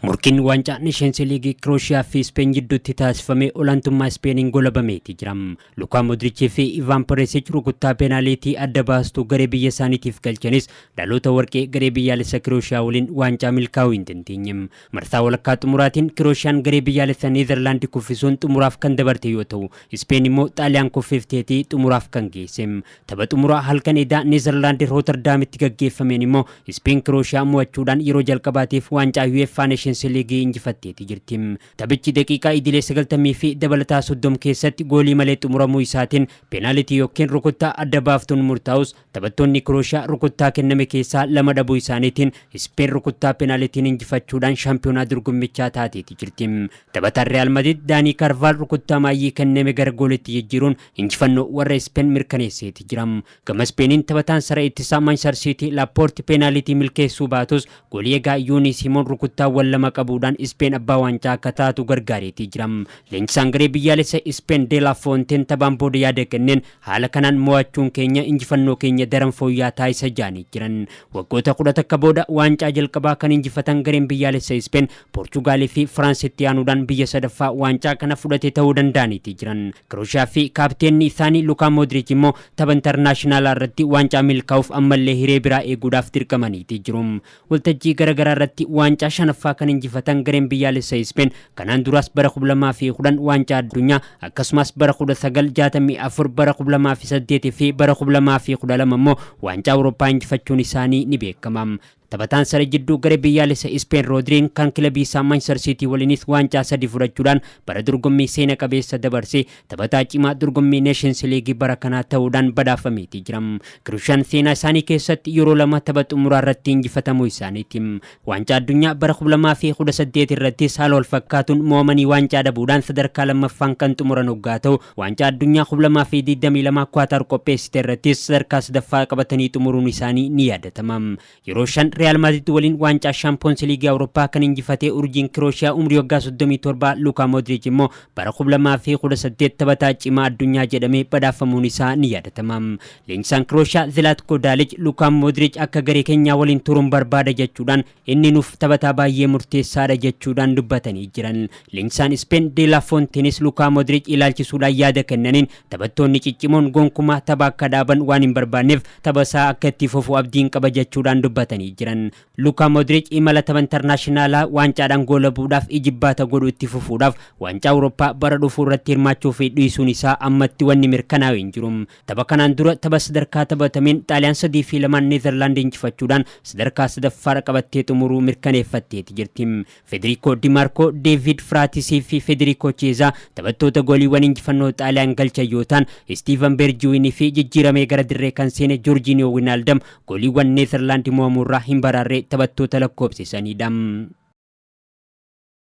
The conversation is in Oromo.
Morkiin waancaa Neeshensi Liigii Kirooshiyaa fi Ispeen jidduutti taasifame olaantummaa Ispeeniin golabameeti jira. Lukaa Modrichii fi Ivaan Peresich rukuttaa peenaaliitii adda baastuu garee biyya isaaniitiif galchanis dhaloota warqee garee biyyaalessa Kirooshiyaa waliin waancaa milkaa'uu hin dandeenye. Marsaa walakkaa xumuraatiin Kirooshiyaan garee biyyaalessa Neezarlaandi kuffisuun xumuraaf kan dabarte yoo ta'u, Ispeen immoo Xaaliyaan kuffifteeti xumuraaf kan geesse. Tapha xumuraa halkan edaa Neezarlaand Rootardaamitti gaggeeffameen immoo Ispeen Kirooshiyaa mo'achuudhaan yeroo jalqabaatiif waancaa UEFA Neeshinsi Liigii injifatteeti jirti. Taphichi daqiiqaa idilee 90 fi dabalataa 30 keessatti goolii malee xumuramuu isaatiin peenaalitii yookiin rukuttaa adda baaftuun murtaa'us taphattoonni Kirooshiyaa rukuttaa kenname keessaa lama dhabuu isaaniitiin Ispeen rukuttaa peenaalitiin injifachuudhaan shaampiyoonaa dorgommichaa taateeti jirti. Taphataan Riyaal Madrid Daanii Kaarvaal rukuttaa maayyii kenname gara gooliitti jijjiiruun injifannoo warra Ispeen mirkaneesseeti jira. Gama Ispeeniin taphataan saree ittisaa Maanchistar Siitii Laappoorti peenaaliitii milkeessuu baatus goolii eegaa Yuunii Siimoon rukuttaawwan lama qabuudhaan Ispeen abbaa waancaa akka taatu gargaareetii jira. Leenjisaan garee biyyaalessa Ispeen De La Foonteen taphaan booda yaada kenneen haala kanaan mo'achuun keenya injifannoo keenya daran fooyya'aa taasisa jedhanii jiran. Waggoota kudha takka booda waancaa jalqabaa kan injifatan gareen biyyaalessa Ispeen Poorchugaal fi Firaans itti aanuudhaan biyya sadaffaa waancaa kana fudhate ta'uu danda'aniiti jiran. Kirooshiyaa fi kaapteenni isaanii Lukaa Moodriich immoo tapha intarnaashinaalaa irratti waancaa milkaa'uuf ammallee hiree biraa eeguudhaaf dirqamaniiti jiru. Waltajjii garagaraa irratti waancaa shanaffaa kan injifatan gareen biyyaalessa Ispeen kanaan duraas bara 2010 waancaa addunyaa akkasumas bara 1964 bara 2008 fi bara 2012 immoo waancaa Awurooppaa injifachuun isaanii ni beekama. Taphataan saree jidduu garee biyyaalessa Ispeen Roodriin kan kilabii isaa Manchester Siitii waliinis waancaa sadii fudhachuudhaan bara dorgommii seena qabeessa dabarse taphataa cimaa dorgommii Neeshins Liigii bara kanaa ta'uudhaan badhaafameetii jira. Kiruushaan seenaa isaanii keessatti yeroo lama tapha xumuraa irratti injifatamuu isaaniiti. Waancaa addunyaa bara 2018 irrattis haala walfakkaatuun mo'amanii waancaa dhabuudhaan sadarkaa lammaffaan kan xumuran oggaa ta'u, Waancaa Addunyaa 2022 Kuwaataar qopheessite irrattis sadarkaa sadaffaa qabatanii xumuruun isaanii ni yaadatama. Yeroo shan Riyaal Maadrid waliin waancaa Shaampiyoonsi Liigii Awurooppaa kan injifate urjiin Kirooshiyaa umrii waggaa 37 Luukaa Moodriich immoo bara 2018 taphataa cimaa addunyaa jedhamee badhaafamuun isaa ni yaadatama. Leenjisaan Kirooshiyaa Zilaatko Daalij Luukaa Moodriich akka garee keenyaa waliin turuun barbaada jechuudhaan Inni nuuf taphataa baayyee murteessaadha jechuudhaan dubbatanii jiran. Leenjisaan Ispeen De La Fonteenis Lukaa Modric ilaalchisuudhaan yaada kennaniin taphattoonni ciccimoon gonkumaa tapha akka dhaaban waan hin barbaanneef taphasaa akka itti fufu abdiin qaba jechuudhaan dubbatanii jiran. Lukaa Modric imala tapha intarnaashinaalaa waancaadhaan goolabuudhaaf ijibbaata godhu itti fufuudhaaf waancaa Awurooppaa bara dhufuurratti hirmaachuufi dhiisuun isaa ammatti wanni mirkanaa'e hin jiru. Tapha kanaan dura tapha sadarkaa taphatameen Xaaliyaan 3 fi 2n Neezarlaand injifachuudhaan sadarkaa sadaffaarra qabattee xumuruu mirkaneeffatteeti jirti. Federiikoo Di Maarkoo, Deeviid Firaatisii fi Federiikoo Chiyeezaa taphattoota gooliiwwan injifannoo Xaaliyaan galchan yoo ta'an, Istiivan Beerjiwiinii fi jijjiiramee gara dirree kan seene Joorjiiniyoo Winaaldam gooliiwwan Neezarlaand mo'amuurraa hin baraarre taphattoota lakkoofsisaniidha.